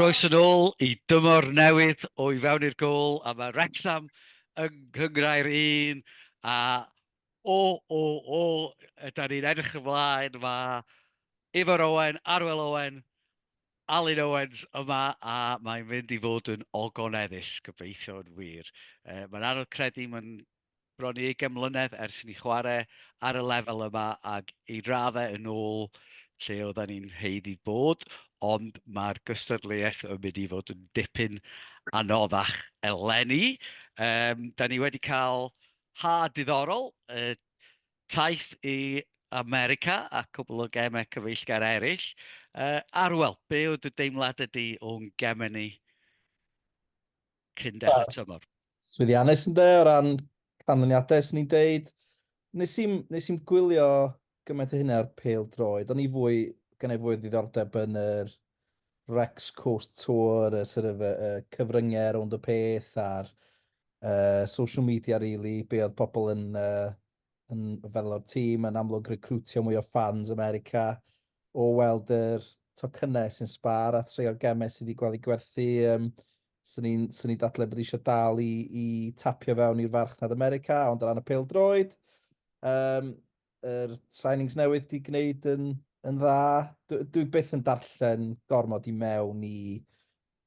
Croeso yn ôl i dymor newydd o I Fewn i'r Gôl a mae Wrecsam yng Nghyngrair un a O, o, o, yda ni'n edrych ymlaen, mae Ifor Owen, Arwel Owen, Alun Owens yma, a mae'n mynd i fod yn ogoneddus, gobeithio yn wir. Uh, mae'n anodd credu, mae'n bron i 20 mlynedd ers ni chwarae ar y lefel yma ac i raddau yn ôl lle oedden ni'n heid i bod, ond mae'r gystadleuaeth yn mynd i fod yn dipyn anoddach eleni. Um, da ni wedi cael Ha, diddorol. Yy, taith i America a cwbl o gemau cyfeillgar eraill. Yy, Arwel, be oedd dy deimlad ydy o'n gemau ni cyn dechrau tymor? Swyddiannus ynde, o ran canlyniadau, swn i'n deud. Nes i'm, nes i'm gwylio gymaint o hynna ar pêl droed. O'n i fwy, gan ei fwy ddiddordeb yn yr Rex Coast Tour, y sort of, y, y cyfryngau rownd y peth a'r uh, social media, really, be oedd pobl yn, uh, yn fel o'r tîm, yn amlwg recrwtio mwy o ffans America, o weld yr tocynnau sy'n sbar a treo'r gemau sydd wedi gweld ei gwerthu. Um, Swn i'n sy ni dadle bod eisiau dal i, i tapio fewn i'r farchnad America, ond o ran y pêl droed, um, Yr signings newydd di gwneud yn, yn dda. Dwi, dwi byth yn darllen gormod i mewn i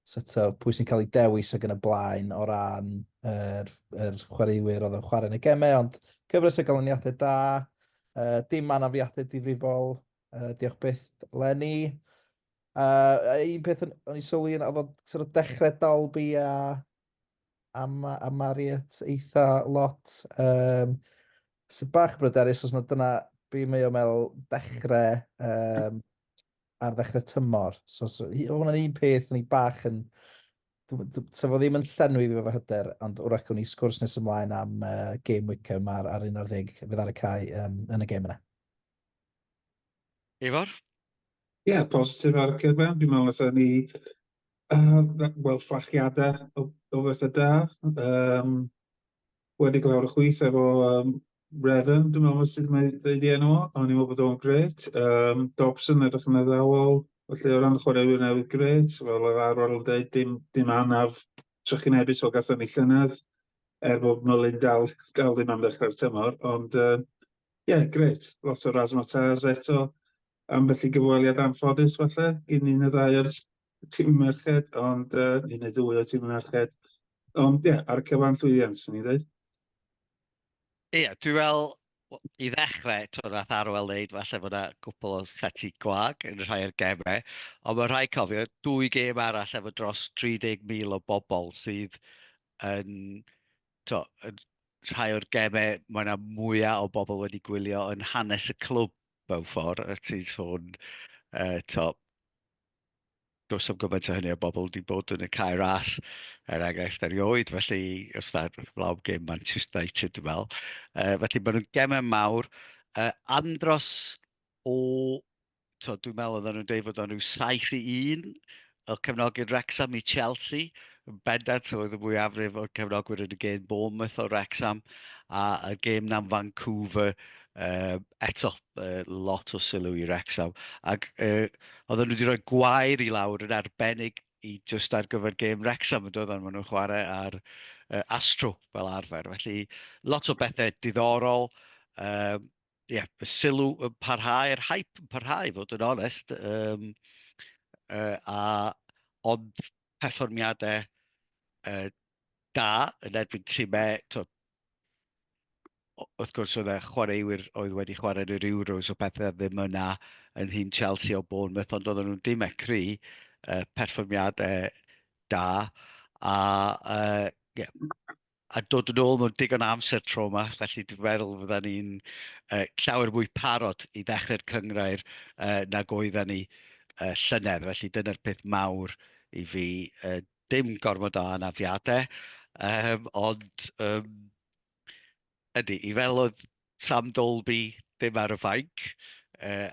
sort of, pwy sy'n cael ei dewis ag yn y blaen o ran yr, yr chwaraewyr oedd yn chwarae yn y gemau, ond cyfres o ganlyniadau da, uh, dim anafiadau difrifol, uh, diolch byth Lenny. Uh, un peth o'n i sylwi yn oedd o'n sort of dechrau Dalby a am, am Mariet eitha lot. Um, sy'n bach bryderus os na dyna be mae o meddwl dechrau um, ar ddechrau tymor. So, so hwnna'n un peth ni bach yn... Sa fo ddim yn llenwi fi fo hyder, ond wrach gwn i sgwrs nes ymlaen am uh, game Wickham ar, ar un o'r ddeg fydd ar y cae um, yn y game yna. Ifor? Ie, yeah, positif ar y cyfan. Dwi'n meddwl allan ni Yy wel fflachiadau o o bethau da yym wedi glaw ar y chwith efo yym Refn dwi'n meddwl sut mae ddeud ei enw o, o'n i'n meddwl bod o'n grêt yym Dobson edrych yn addawol, felly o ran chwaraewyr newydd grêt fel oedd Arwel yn deud dim dim anaf trychinebus fel gathon ni llynedd er bod Mullin dal dal ddim am ddechrau'r tymor ond yy ie grêt lot o razzmatazz eto ambell i gyfweliad anffodus falle gin un neu ddau o'r tîm merched, ond uh, un neu ddwy o tîm merched. Ond ie, yeah, ar y cyfan llwyddiant, swn i'n dweud. Ie, yeah, dwi'n fel, i ddechrau, twyd, nath Arwel wneud, falle bod yna gwpl o seti gwag yn rhai o'r gemau, ond mae rhai cofio, dwy gem arall efo dros 30,000 o bobl sydd yn, to, yn rhai o'r gemau, mae yna mwyaf o bobl wedi gwylio yn hanes y clwb mewn ffordd, a ti'n sôn, uh, to, does am gymaint o hynny o bobl wedi bod yn y cair all, er enghraifft erioed, felly os da flaw gêm Manchester United, dwi'n meddwl. Uh, felly maen nhw'n gemau mawr. Uh, andros o, to, dwi'n meddwl oedden nhw'n dweud fod o'n rhyw 7 i 1 o cefnogi'r Rexham i Chelsea, yn bendant oedd y mwyafrif o'r cefnogwyr yn y gêm Bournemouth o Rexham, a y gêm na'n Vancouver, uh, eto uh, lot o sylw i Rexham. Ac uh, oedden nhw wedi rhoi gwair i lawr yn arbennig i just ar gyfer gêm Wrexham yn doedden nhw'n chwarae ar uh, Astro fel arfer. Felly lot o bethau diddorol, um, yeah, y sylw yn parhau, yr hype yn parhau, fod yn onest, um, uh, a ond perfformiadau uh, da yn erbyn tîmau wrth gwrs oedd e chwaraewyr oedd wedi chwarae yn yr Euros o pethau ddim yna yn hyn Chelsea o Bournemouth ond oedden nhw'n dim ecri uh, perfformiadau da a uh, yeah, a dod yn ôl mewn digon amser tro yma, felly dwi'n meddwl fydda ni'n uh, llawer mwy parod i ddechrau'r cyngrair uh, nag oedda ni uh, llynedd, felly dyna'r peth mawr i fi uh, Dim gormod o anafiadau, um, ond um, ydy, i fel oedd Sam Dolby ddim ar y fainc uh,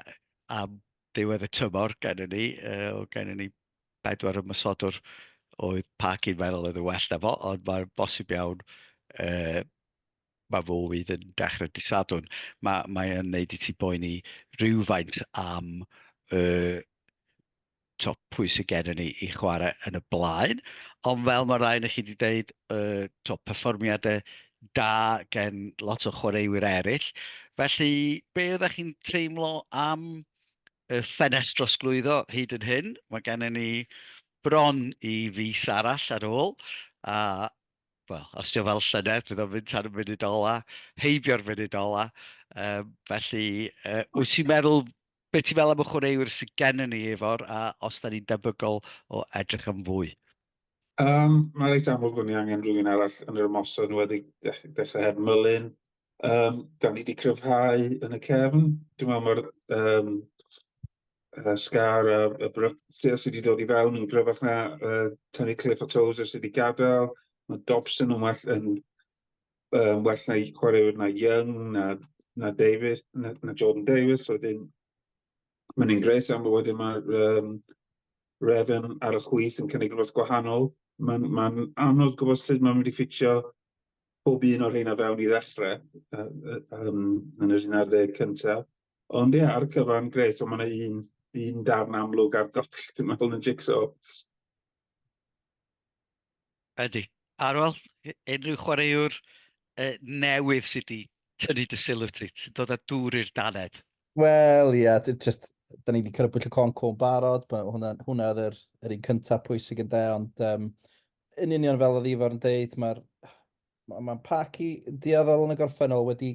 am diwedd y tymor gen i ni, uh, o gen i ni bedwar ymwysodwr oedd pac i'n meddwl oedd yn well na fo, ond mae'r bosib iawn uh, mae fo fydd yn dechrau disadwn. Mae, mae yn neud i ti boeni rhywfaint am uh, top pwy sydd gen ni i chwarae yn y blaen. Ond fel mae rhaid i chi wedi dweud, uh, top perfformiadau da gen lot o chwaraewyr eraill. Felly, be oeddech chi'n teimlo am y ffenest drosglwyddo hyd yn hyn? Mae gennym ni bron i fus arall ar ôl, a wel, os ti'n fel llynedd, bydd o'n mynd tan y munud ola, heibio'r munud ola. Um, felly, uh, wyt ti'n meddwl Be ti'n meddwl am y chwaraewyr sydd gennym ni, Ifor, a os da ni'n debygol o edrych am fwy? Um, Mae'n reit amlwg bod ni angen rhywun arall yn yr ymosod, nhw wedi dechrau heb Mullin. Um, da ni wedi cryfhau yn y cefn. Dwi'n meddwl mae'r um, uh, Scar a, a Brysio sydd wedi dod i fewn yn gryfach na uh, Tony Cliff a Tozer sydd wedi gadael. Mae Dobson yn well yn um, well na i chwaraewyr na Young, na, na Davis, na, na Jordan Davis, wedyn mae'n un gres am bod wedyn mae um, Revan ar y chwys yn cynnig rhywbeth gwahanol. Mae'n ma anodd gwybod sut mae'n mynd i ffitio pob un o'r rheina fewn i ddechrau uh, um, yn yr un ar ddeg cyntaf. Ond ie, ar y cyfan, gret, ond mae'n un, un darn amlwg ar goll, dwi'n meddwl, yn y jigsaw. Ydy. Ar ôl unrhyw chwaraewr uh, newydd sydd wedi tynnu dy sylw ti, sy'n dod â dŵr i'r daned. Wel, ia, yeah, just, da ni wedi crybwyll y con cwn barod, hwnna, hwnna oedd yr, yr un cyntaf pwysig yn de, ond um, yn union fel oedd Ifar yn deud, mae'r mae ma Parky dioddol yn y gorffennol wedi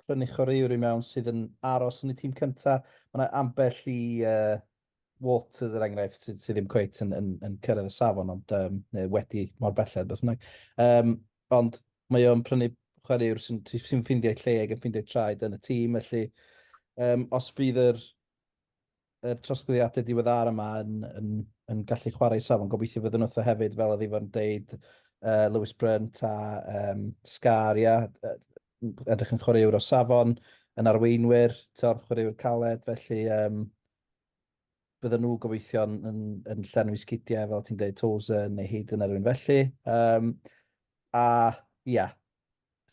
prynu chwaraewr i mewn sydd yn aros yn y tîm cyntaf. Mae yna ambell i uh, Walters er enghraifft sydd sy ddim cweit yn, yn, yn cyrraedd y safon ond um, neu wedi mor belled beth bynnag. Um, ond mae o'n prynu chwaraewr sy'n sy ffeindio ei lle ac yn ffeindio ei traed yn y tîm felly um, os fydd yr, yr trosglwyddiadau diweddar yma yn, yn, yn gallu chwarae safon gobeithio fydden nhw hefyd fel oedd Ifan deud uh, Lewis Brunt a um, Scar ia, edrych yn chwaraewr o safon, yn arweinwyr, tio'r chwaraewr caled, felly um, bydden nhw gobeithio yn, yn, yn llenwi sgidiau, fel ti'n dweud, Tozer neu hyd yn erwyn felly. Um, a, ia, yeah,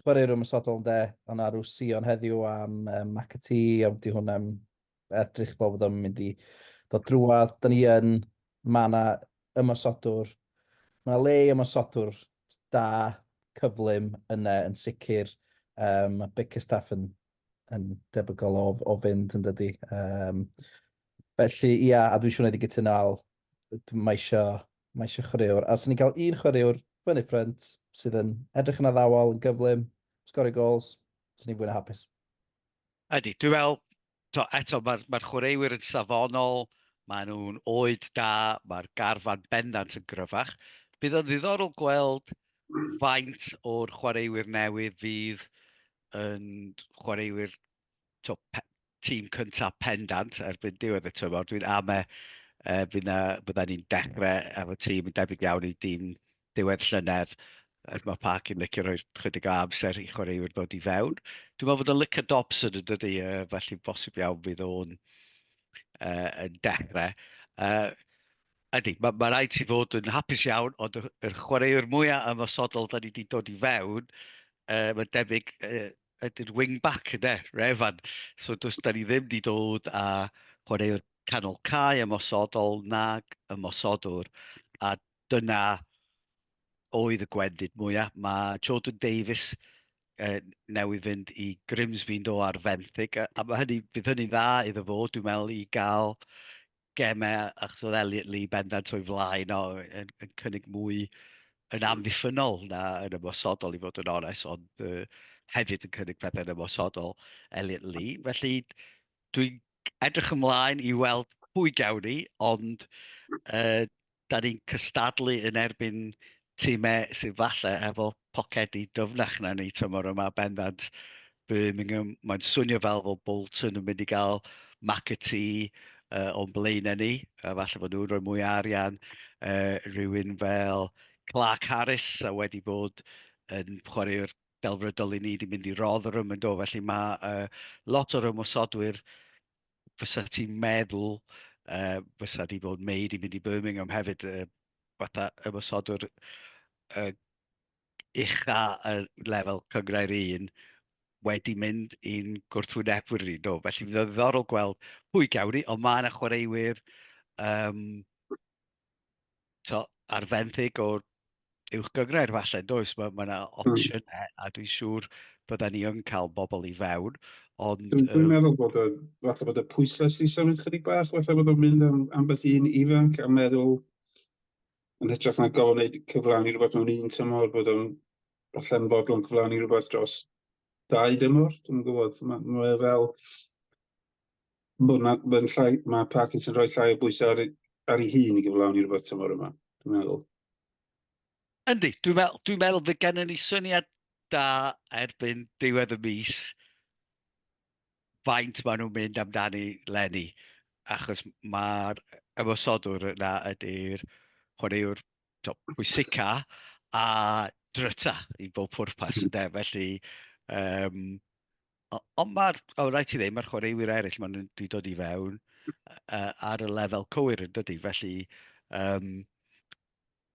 chwaraewr ymwysodol yn de, ond arw Sion heddiw am um, McAtee, ond di hwn am edrych bod bod o'n mynd i ddod drwad. Da ni yn, mae yna ymosodwr, mae yna le i ymosodwr da, cyflym yna yn sicr. Um, mae Bickerstaff yn, yn debygol o, o fynd yn dydy. Um, felly, ia, a dwi'n siŵr wneud i gytuno al, mae eisiau, mae eisiau chwaraewr. A sy'n ni'n cael un chwaraewr fyny ffrynt sydd yn edrych yn addawol, yn gyflym, sgorio gols, sy'n ni'n fwy na hapus. Ydy, dwi'n meddwl, to, eto, mae'r mae chwaraewyr yn safonol, maen nhw'n oed da, mae'r garfan bendant yn gryfach. Bydd o'n ddiddorol gweld faint o'r chwaraewyr newydd fydd yn chwaraewyr to, pe, tîm cyntaf pendant erbyn diwedd y tymor. Dwi'n ame e, bydda ni'n dechrau efo tîm yn debyg iawn i dîm diwedd llynedd, er mae Parc yn licio rhoi chydig o amser i chwaraewyr ddod i fewn. Dwi'n meddwl bod o'n licio Dobson yn dydy, uh, felly bosib iawn fydd o'n uh, yn dechrau. Uh, ydy, mae ma rhaid ti fod yn hapus iawn, ond yr, yr chwaraewr mwyaf ymosodol da ni wedi dod i fewn, uh, mae'n debyg uh, ydy'r wing-back yna, Refan. So does da ni ddim wedi dod a chwaraewr canol cae ymosodol nag ymosodwr, a dyna oedd y gwendid mwyaf. Mae Jordan Davies uh, newydd fynd i Grimsby yn do ar fenthyg, a, a mae hynny, bydd hynny'n dda iddo fo, dwi'n meddwl, i gael gemau, achos oedd Elliot Lee bendant o'i flaen o, yn, yn cynnig mwy yn amddiffynol na yn ymosodol i fod yn ones, ond uh, hefyd yn cynnig pethau yn ymosodol Elliot Lee. Felly dwi'n edrych ymlaen i weld pwy gawn ni, ond uh, da ni'n cystadlu yn erbyn tîmau sydd falle efo pocedi dyfnach na ni tymor yma bendant Birmingham. Mae'n swnio fel fod Bolton yn mynd i gael McAtee uh, o'n blaenau ni, a falle bod nhw'n rhoi mwy o arian uh, rhywun fel Clark Harris a wedi bod yn chwaraewr delfrydol i ni 'di mynd i rodd yr ymwneud o, felly mae uh, lot o'r ymwysodwyr fysa ti'n meddwl uh, fysa di fod May di mynd i Birmingham hefyd uh, fatha ymwysodwr uh, ucha y lefel cyngrair un wedi mynd i'n gwrthwynebwyr ni. No, felly fydd ddiddorol gweld pwy gawn ni, ond mae yna chwaraewyr um, to, ar fenthyg o uwch gyngred falle, does? Mae yna ma hmm. opsiynau mm. a dwi'n siŵr bydden ni yn cael bobl i fewn, ond... Dwi'n dwi meddwl bod y, falle bod y pwysau sy'n symud chydig bach, falle bod o'n mynd am ambell un ifanc a meddwl yn hytrach na gofyn wneud cyflawni rhywbeth mewn un tymor, bod o'n falle yn fodlon cyflawni rhywbeth dros dau dymor, dwi'n gwybod, mae ma fel Bod na, mae'n llai, mae Parkins yn rhoi llai o bwysau ar, ar ei hun i gyflawni rhywbeth tymor yma, dwi'n meddwl. Yndi, dwi'n meddwl, dwi'n meddwl fy gen ni syniad da erbyn diwedd y mis faint maen nhw'n mynd amdani lenni, achos mae'r ymwysodwr yna ydy'r chwaraewr pwysica a dryta i bob pwrpas, ynddo, felly um, Ond mae'r... o, rhaid ti ddim, mae'r chwaraewyr eraill maen nhw wedi dod i fewn uh, ar y lefel cywir yn dydy. Felly, um,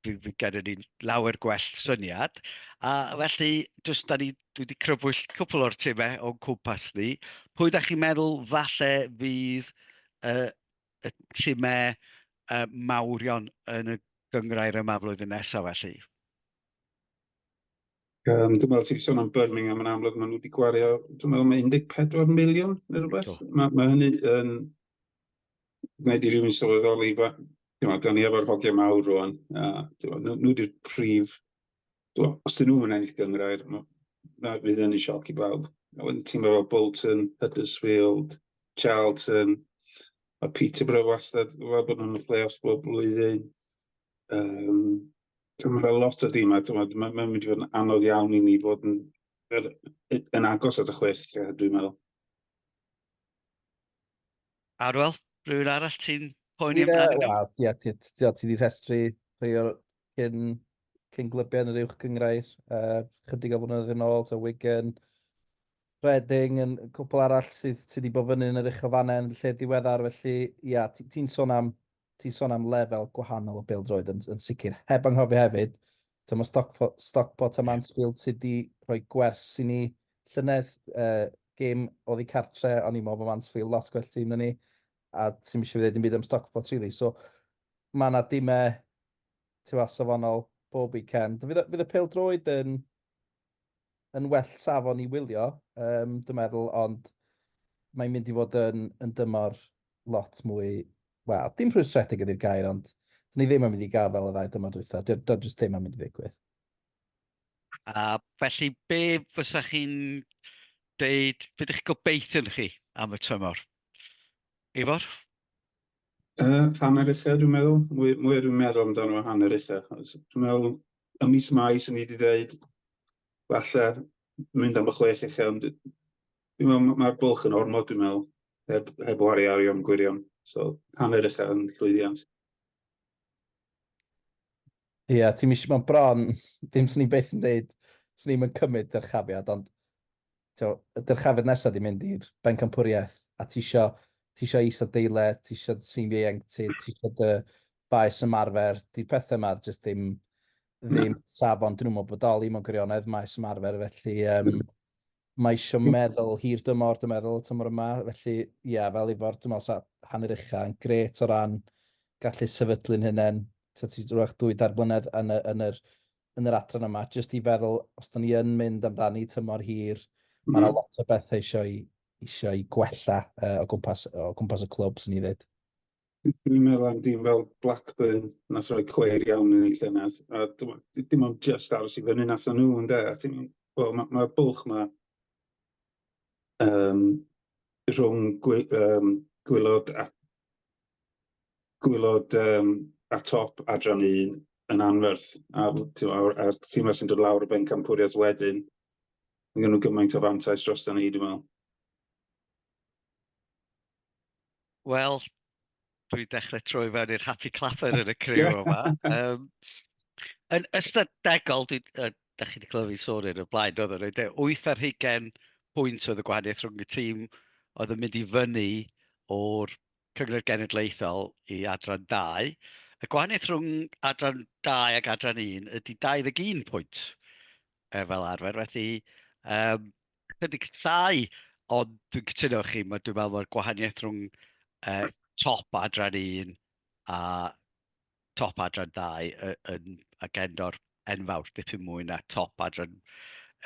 fi, fi gyda ni lawer gwell syniad. A felly, jyst da ni, dwi wedi crybwyll cwpl o'r timau o'n cwmpas ni. Pwy da chi'n meddwl falle fydd uh, y timau uh, mawrion yn y gyngrair yma flwyddyn nesaf felly? Um, dwi'n meddwl ti'n sôn am Birmingham yn amlwg, maen nhw wedi gwario, dwi'n meddwl mae 14 miliwn neu rhywbeth. Mae, mae hynny yn gwneud i rywun sylweddoli, meddwl, da ni efo'r hogiau mawr rwan, a nhw wedi'r prif, meddwl, os dyn nhw'n ennill gyngrair, na fydd yn ei sioc i bawb. A wedyn ti'n meddwl Bolton, Huddersfield, Charlton, a Peterborough wastad, fel bod nhw'n y play-offs bob blwyddyn. Um, Mae fel lot o dîmau, mae'n mynd i fod yn anodd iawn i ni fod yn, er, yn agos at y chwech, dwi'n meddwl. Arwel, rhywun arall ti'n poeni amdano? Wel, ti wedi rhestru rhai o'r cyn, cyn glybiau yn yr uwch gyngrair, uh, chydig o flynyddoedd yn ôl, so Wigan, Reading yn cwpl arall sydd sydd wedi bod fyny yn yr uchelfannau yn y lle diweddar felly ia ti'n ti sôn am ti'n sôn am lefel gwahanol o bêl-droed yn, yn sicr. Heb anghofio hefyd, ta mae Stockport, Stockport a Mansfield sydd wedi rhoi gwers i ni llynedd uh, gêm oddi cartre, o'n i'n meddwl bod Mansfield lot gwell tîm na ni, a ti'n eisiau fi ddweud yn byd am Stockport really. So mae yna dimau ti'n safonol bob weekend. Fydd, fydd y pêl-droed yn yn well safon i wylio, um, dwi'n meddwl, ond mae'n mynd i fod yn, yn dymor lot mwy, wel, dim rhwystredig ydy'r gair, ond dyn ni ddim yn mynd i gael fel y ddau dymor dwytha, dyna dy, jyst ddim yn mynd i ddigwydd. A felly, be fysa chi'n deud, beth ydych gobeithio'n chi am y tymor? Ifor? Yy hanner ella dwi'n meddwl, mwy mwy dwi'n meddwl amdano hanner ella. Dwi'n meddwl ym mis Mai sy'n ni wedi dweud falle mynd am y chwech ella, ond dwi'n meddwl mae'r bwlch yn ormod dwi'n meddwl, heb, heb wari arian gwirion, so hanner ella yn llwyddiant. Ie, yeah, ti'n mis mewn bron, dim sy'n ni beth yn dweud, sy'n ni'n cymryd dyrchafiad, ond so, y dyrchafiad nesaf di mynd i'r bencampwriaeth, a ti isio, ti isio is adeiledd, ti isio sy'n ieuenctid, ti isio dy faes ymarfer, di pethau yma jyst ddim, ddim safon, dyn nhw'n bodoli mewn gwirionedd maes ymarfer, felly um, Mae eisiau hmm. meddwl hir dymor, dwi'n meddwl, tymor yma. Felly, ie, yeah, fel Ifor, dwi'n meddwl sa hanner ucha yn gret o ran gallu sefydlu'n hynny. Ti'n ti rhywbeth dwy dair blynedd yn, y, yn, yr, yn yr adran yma, jyst i feddwl, os da ni yn mynd amdani tymor hir, mm. mae yna hmm. lot o bethau eisiau, eisiau gwella uh, o, gwmpas, o gwmpas y clwb, sy'n ni ddweud. Dwi'n meddwl am dîm fel Blackburn nath roi cweir iawn yn ei llynedd, a dim ond just aros i fyny nath nhw ynde, a ti'n wel ma' ma'r bwlch ma um, rhwng gwy, um, gwylod a gwylod um, a top adran un yn anferth a a'r, a'r tîm sy'n dod lawr y bencampwriaeth wedyn mae gen nhw gymaint o fantais dros ni dwi'n meddwl. Wel, dwi'n dechrau troi fewn i'r happy clapper yn y criw yma. Um, yn ystadegol, dwi, uh, da chi wedi clywed fi sôn yn y blaen, oedd o'n rhaid 8 ar hugen pwynt oedd y gwahaniaeth rhwng y tîm oedd yn mynd i fyny o'r Cyngor Genedlaethol i adran 2. Y gwahaniaeth rhwng adran 2 ac adran 1 ydy 21 pwynt e, fel arfer. Felly, um, Chydig llai, ond dwi'n cytuno chi, mae dwi'n meddwl mae'r gwahaniaeth rhwng uh, top adran un a top adran ddau yn agendo'r enfawr, dipyn mwy na top adran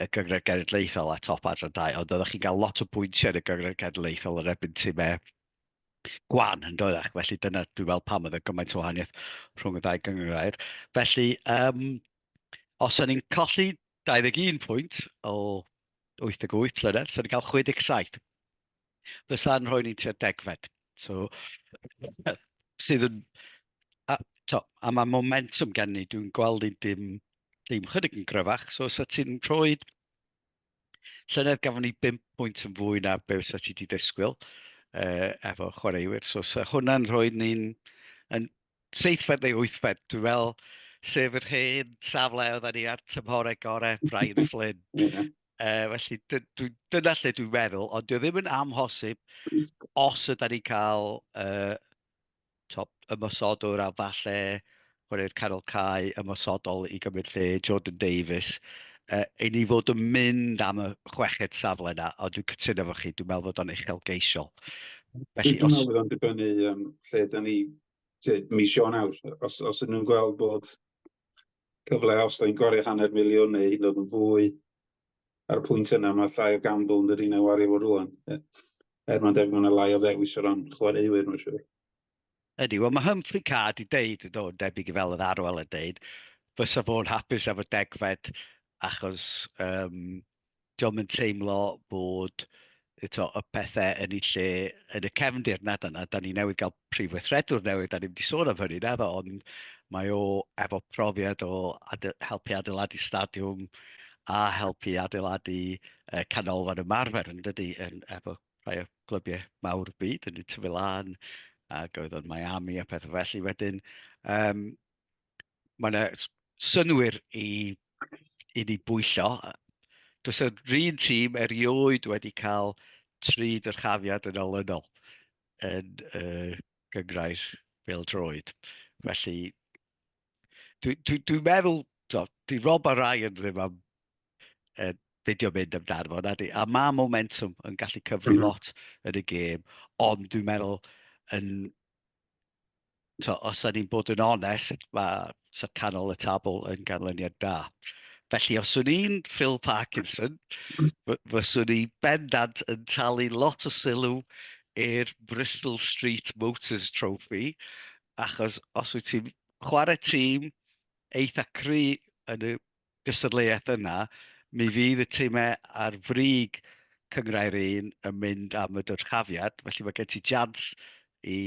y gyngred genedlaethol a top adran ddau, ond oeddech chi'n cael lot o bwyntiau yn y gyngred genedlaethol yn ebyn ti me gwan yn dod ac felly dyna dwi'n meddwl pam oedd y gymaint o wahaniaeth rhwng y ddau gyngrair. Felly, um, os o'n i'n colli 21 pwynt o 88 llynedd, so ni'n cael 67. Fysa'n rhoi ni'n tua degfed. So, sydd yn... A, to, a mae momentum gen ni, dwi'n gweld ni'n dim, dim chydig yn gryfach. So, os ti'n rhoi... Llynedd gafon ni 5 pwynt yn fwy na be fysa ti wedi disgwyl uh, efo chwaraewyr. So, so hwnna'n rhoi ni'n yn seithfed neu wythfed, dwi'n meddwl, sef yr hen safle oedd ni ar tymhorau gorau Brian Flynn. yeah. uh, felly dy, dy, dyna lle dwi'n meddwl, ond dwi ddim yn amhosib os ydy ni'n cael uh, top, ymosodwr a falle chwarae'r canol cae ymosodol i gymryd lle Jordan Davies. Uh, I ni fod yn mynd am y chweched safle yna, ond dwi'n cytuno fo chi, dwi'n meddwl fod o'n uchelgeisiol. Felly, Dwi'n meddwl bod o'n dibynnu um, lle da ni mis Ionawr. Os, os ydyn nhw'n gweld bod cyfle os da ni'n gwario hanner miliwn neu hyd yn oed yn fwy ar y pwynt yna, mae llai o gamble yn dydyn nhw wario fo rwan. Er mae'n debyg mae'n lai o ddewis o ran chwaraewyr, mae'n siŵr. Ydy, wel mae Humphrey Card i deud, do, debyg i fel oedd Arwel yn deud, fysa fo'n hapus efo degfed achos um, dio'm yn teimlo fod eto, y pethau yn ei lle yn y cefndir nad yna. Da ni newydd gael prif weithredwr newydd, da ni wedi sôn am hynny, naddo, ond mae o efo profiad o ade helpu adeiladu stadiwm a helpu adeiladu uh, canolfan ymarfer yn dydy, yn, efo rhai o glybiau mawr byd, yn y Tyfilan, ac oedd o'n Miami a pethau felly wedyn. Um, mae yna synwyr i, i ni bwyllo. Does yr un tîm erioed wedi cael tri dyrchafiad yn olynol yn y uh, gyngrair fel droed. Felly, dwi'n dwi, dwi meddwl, do, di Rob a Ryan ddim am uh, beidio mynd amdano fo, na di. A mae momentum yn gallu cyfri mhm. lot yn y gêm, ond dwi'n meddwl yn So, os da ni'n bod yn onest, mae Sir Canol y Tabl yn ganlyniad da. Felly, os o'n i'n Phil Parkinson, fyswn i bendant yn talu lot o sylw i'r Bristol Street Motors Trophy, achos os wyt ti'n chwarae tîm eitha cry yn y gystadleuaeth yna, mi fydd y timau ar frig Cynghrair Un yn mynd am y dyrchafiad, felly mae gen ti jans i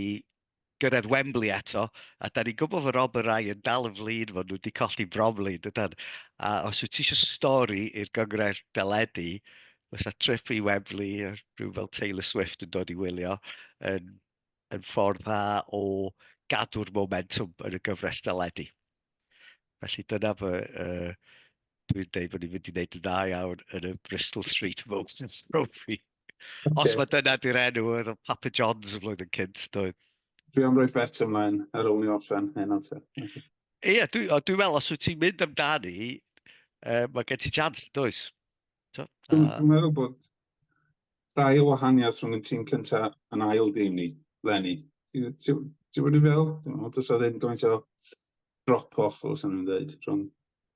gyrraedd Wembley eto, a da ni'n gwybod fod Rob a Rai yn dal yn flin, fod nhw wedi colli Bromley, dydan. A os wyt ti eisiau stori i'r Gynghrair deledu, fysa trip i Wembley, rhyw fel Taylor Swift yn dod i wylio, yn, yn ffordd dda o gadw'r momentum yn y gyfres deledu. Felly dyna fy... Uh, dwi'n dweud bod ni'n mynd i wneud yn dda iawn yn y Bristol Street Moses Trophy. Okay. Os mae dyna di'r enw, oedd Papa John's y flwyddyn cynt, doedd. Dwi am roi bet ymlaen ar ôl ni orffen hyn o'n te. Ie, yeah, dwi'n dwi meddwl, os wyt ti'n mynd amdani, uh, mae gen ti chance, does? So, uh... Dwi'n meddwl bod Rhai o wahaniaeth rhwng y tîm cynta yn ail dîm ni, Lenny. Ti'n bod i'n fel? Does o ddim gymaint o drop-off, os o'n i'n dweud, rhwng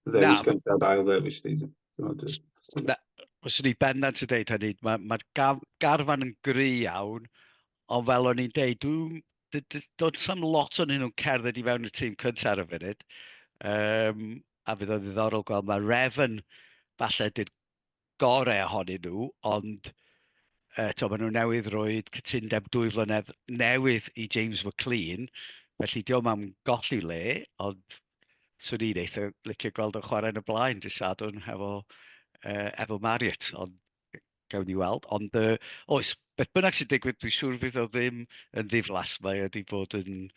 ddewis cynta a ail ddewis ni. Os o'n i'n bendant yn dweud hynny, mae'r ma garfan yn gry iawn, ond fel o'n i'n dweud, dwi'n dod sam lot o'n nhw'n cerdded i fewn y tîm cynta ar y funud. Um, a fydd o ddiddorol gweld, mae Refn, falle, gorau ohonyn nhw, ond uh, to, maen nhw newydd roed cytundeb dwy flynedd newydd i James McLean, felly diolch am golli le, ond swn i'n eitha licio gweld yn chwarae yn y blaen, dy sadwn hefo, uh, efo Marriott, ond gawn ni weld. Ond uh, oes, beth bynnag sy'n digwydd, dwi'n siŵr fydd o ddim yn ddiflas, mae wedi bod yn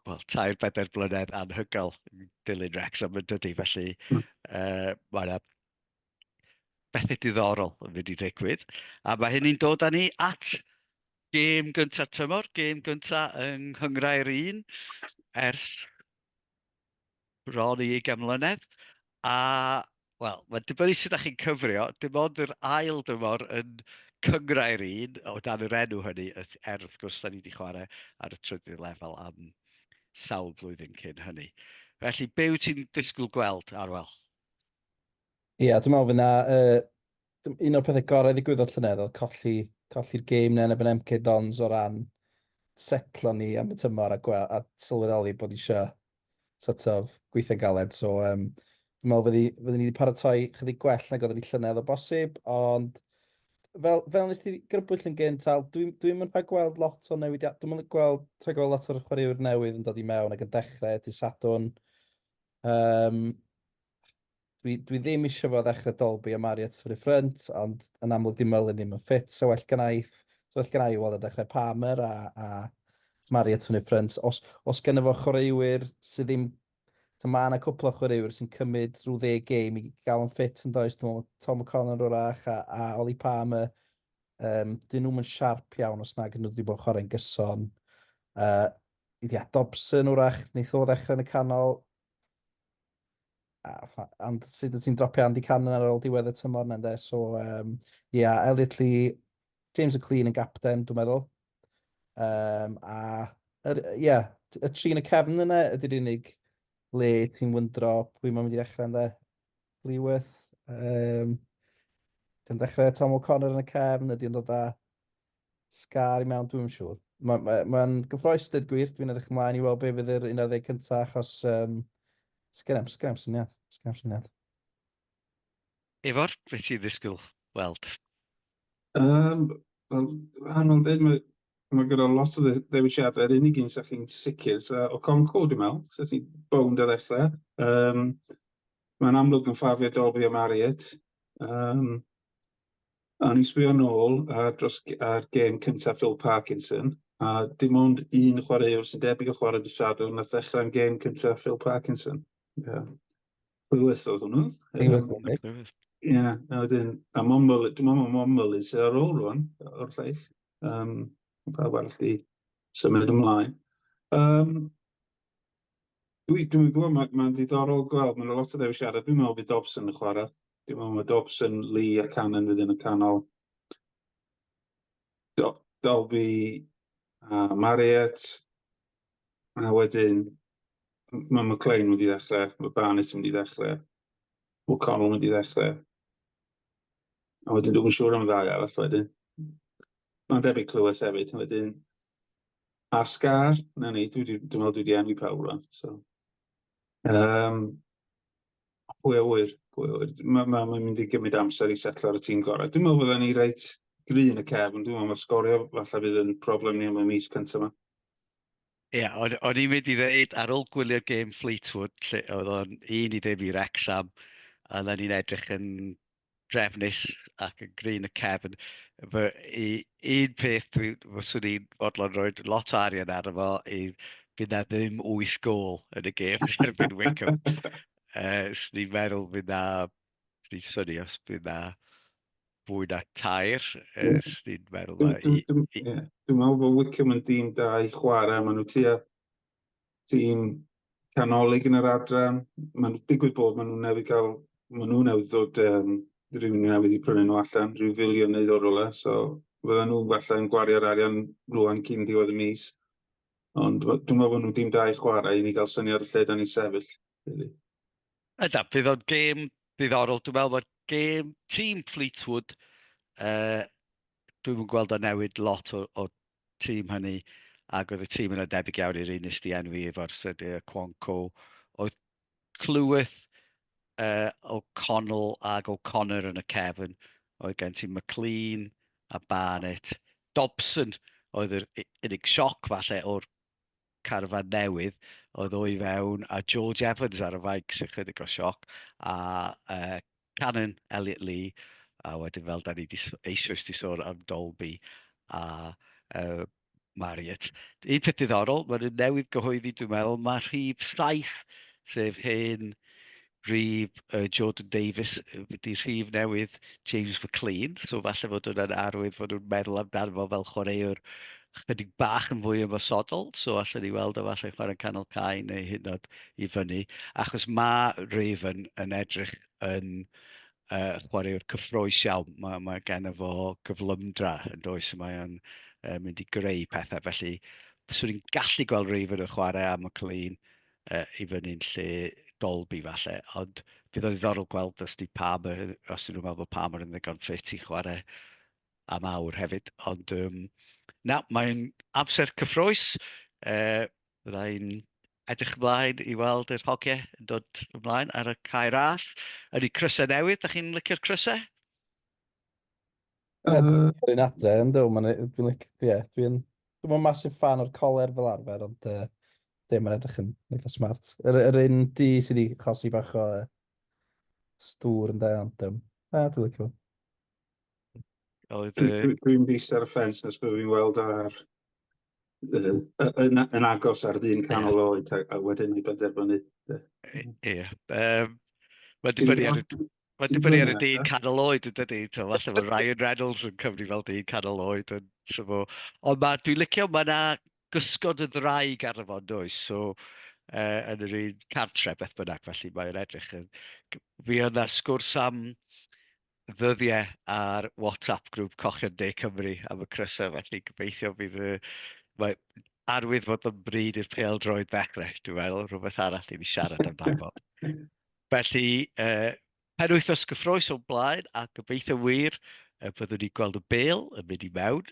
well, tair bedair blynedd anhygoel yn dilyn Rex am yn dydy, felly uh, mae yna bethe diddorol yn mynd i ddigwydd, a mae hynny'n dod â ni at gêm gynta'r tymor, gêm gynta yng Nghyngrair un ers bron i ugain mlynedd, a wel, mae'n dibynnu sut ydych chi'n cyfrio, dim ond yr ail dymor yn Cyngrair un, o dan yr enw hynny, er wrth gwrs da ni wedi chwarae ar y trydydd lefel am sawl blwyddyn cyn hynny. Felly, be wyt ti'n disgwyl gweld, Arwel? Ie, yeah, dwi'n meddwl fyna, uh, un o'r pethau gorau ddigwyddodd llynedd oedd colli, colli'r game na yn ebyn MK Dons o ran setlo ni am y tymor a, gwel, a sylweddoli bod eisiau sort of gweithio galed. So, um, dwi'n meddwl fyddi, fyddi ni wedi paratoi chydig gwell nag oedden ni llynedd o bosib, ond fel, fel nes ti grybwyll yn gynt, Al, dwi'n dwi mynd rhaid gweld lot o newidiad, dwi'n mynd gweld, rhaid gweld lot o'r chwaraewyr newydd yn dod i mewn ac yn dechrau, ti Sadwn, um, dwi, dwi ddim eisiau fod ddechrau Dolby a Mario to the front, ond yn amlwg dim Merlin ddim yn ffit, so well gan i, so well gan i weld y dechrau Palmer a, a Mario to the front. Os, os gen efo chwaraewyr sydd ddim, ta mae yna cwpl o chwaraewyr sy'n cymryd rhyw ddeg game i gael yn ffit yn does, dwi'n meddwl Tom O'Connor o'r ach a, a Oli Palmer, um, dyn nhw'n mynd siarp iawn os nag nhw wedi bod chwarae'n gyson. Uh, Ia, Dobson wrach, wneith o ddechrau yn y canol, and sut ti'n dropio Andy Cannon ar ôl diwedd y tymor na, ynde? So, um, yeah, Elliot Lee, James O'Clean yn gapten, dwi'n meddwl. Um, a, er, yeah, y tri yn y cefn yna ydy'r unig le ti'n wyndro pwy mae'n mynd i ddechrau ynddo. Lewith, um, ti'n dechrau Tom O'Connor yn y cefn, ydy'n dod â Scar i mewn, dwi'n siŵr. Mae'n ma, ma gyffroes dweud gwir, dwi'n edrych ymlaen i weld beth fydd yr 11 cyntaf achos um, sgyrem, sgyrem syniad, sgyrem syniad. Efor, beth ti'n ddisgwyl weld? Um, Wel, anodd dweud, mae, mae gyda lot o ddewisiadau, yr unig un sy'n chi'n sicr, so, o Conco, dwi'n meddwl, so ti'n bownd o ddechrau. Um, mae'n amlwg yn ffafio Dolby a Marriott. Um, A ni'n sbio nôl ar, dros, ar gêm cyntaf Phil Parkinson, a dim ond un chwaraewr sy'n debyg o chwarae dy sadwn na ddechrau'n gêm cyntaf Phil Parkinson. Yeah. Lewis oedd hwnnw. Ie, yeah, a wedyn, a Momol, dim ond Momol i sydd ar ôl rwan, o'r llais. Um, pa arall di symud ymlaen. Um, dwi, dwi'n gwybod, mae'n ma ddiddorol gweld, mae'n lot o ddewisiadau. Dwi'n meddwl bydd Dobson yn chwarae Dim ond mae Dobson, Lee a Cannon fydd yn y canol. Do Dolby a Marriott. A wedyn mae McLean wedi ddechrau, mae Barnes wedi ddechrau, O'Connell wedi ddechrau. A wedyn dwi'n siŵr am ddau arall wedyn. Mae'n debyg clywes hefyd. Wedyn, a Scar, na ni, dwi'n meddwl dwi wedi enwi pawb rhan. So. Um, A pwy a ŵyr, pwy a ŵyr. Mae ma, ma mynd i gymryd amser i setlo ar y tîm gorau. Dwi'n meddwl fydden ni reit grin y cef, ond dwi'n meddwl mae'r sgorio falle fydd yn problem ni am y mis cyntaf yma. Ie, yeah, o'n, on i'n mynd i ddeud, ar ôl gwylio'r gêm Fleetwood, lle oedd o'n un i ddim i Rexham, a na ni'n edrych yn drefnus ac yn gry yn y cefn. Fy, i, un peth dwi, fyswn i'n fodlon rhoi lot o arian ar efo i fydd na ddim 8 gol yn y gêm erbyn Wycombe. uh, Swn i'n meddwl fydd na, swn i'n syni os bydd na fwy na tair, uh, swn i'n meddwl na... Dwi'n meddwl bod Wycombe yn dîm da i chwarae, maen nhw tua tîm canolig yn yr adran. Mae'n digwydd bod maen nhw'n newydd gael, maen nhw'n newydd dod um, rhywun newydd i prynu nhw allan, rhyw filiwn neu ddod rolau, so fydden nhw falle yn gwario'r arian rwan cyn diwedd y mis. Ond dwi'n meddwl bod nhw'n dim da i chwarae i ni gael syniad y lle da ni sefyll. Really. Ydaf, bydd o'n gêm ddiddorol. Dwi'n meddwl bod gêm tîm Fleetwood uh, dwi'm yn gweld o'n newid lot o, o tîm hynny, ac oedd y tîm yna debyg iawn i'r un nes di enwi efo'r Sede y Cwanco. Oedd clywyth uh, O'Connell ac O'Connor yn y cefn. Oedd gen ti McLean a Barnett. Dobson oedd yr unig sioc falle o'r carfan newydd oedd o'i fewn a George Evans ar y faig sy'n chydig o sioc a uh, Canon Elliot Lee, a wedyn fel da ni di, eisoes di sôn am Dolby a uh, Marriott. Un peth diddorol, mae'n nhw'n newydd gyhoeddi, dwi'n meddwl, mae rhif 7, sef hyn rhif uh, Jordan Davis, wedi rhif newydd James McLean, so falle fod hwnna'n arwydd fod nhw'n meddwl amdano fo fel chwaraewr chydig bach yn fwy ymosodol, so allen ni weld o falle chwarae'n canol cae neu hyd yn oed i fyny, achos mae Raven yn edrych yn uh, chwaraewr cyffroes iawn. Mae, mae gen fo gyflymdra yn does, mae o'n uh, mynd i greu pethau, felly swn i'n gallu gweld Raven yn chwarae am y clean uh, i fyny'n lle Dolby falle, ond bydd o'n ddiddorol gweld os di Palmer, os dyn nhw'n meddwl bod Palmer yn ddigon ffit i chwarae am awr hefyd. Ond um, na, mae'n amser cyffroes. Uh, Byddai'n edrych ymlaen i weld yr hogiau yn dod ymlaen ar y cae ras. Yn ei crysau newydd, da chi'n licio'r crysau? Uh, Dwi'n adre yn dweud, mae'n dwi'n licio, ie, dwi'n... Dwi'n mynd masif fan o'r coler fel arfer, ond uh, dim yn edrych yn eitha smart. Yr, yr un di sydd wedi chosi bach o uh, stŵr yn dweud, ond um, uh, dwi'n licio. Oedd e... Dwi'n dwi ddister ar y ffens nes byddwn i'n weld ar yn, yn, yn agos ar ddyn canol yeah. oed a, a wedyn i benderfynu. Ie. Yeah. Um, Mae'n dibynnu ar y... Mae'n dibynnu ar y dyn canol oed yn dydy. Falle mae Ryan Reynolds yn cyfri fel dyn canol oed yn syfo. Ond mae, dwi'n licio, mae yna gysgod y ddraig ar y fod does. So, uh, yn yr un cartre beth bynnag, felly mae'n edrych yn... Fi yna sgwrs am ddyddiau ar WhatsApp grŵp Cochion De Cymru am y crysau, felly gobeithio bydd y... Mae arwydd fod yn bryd i'r pêl droed ddechrau, dwi'n meddwl, rhywbeth arall i ni siarad amdano. felly, uh, penwythnos gyffroes o'n blaen, a gobeithio wir y byddwn ni'n gweld y bêl yn mynd i mewn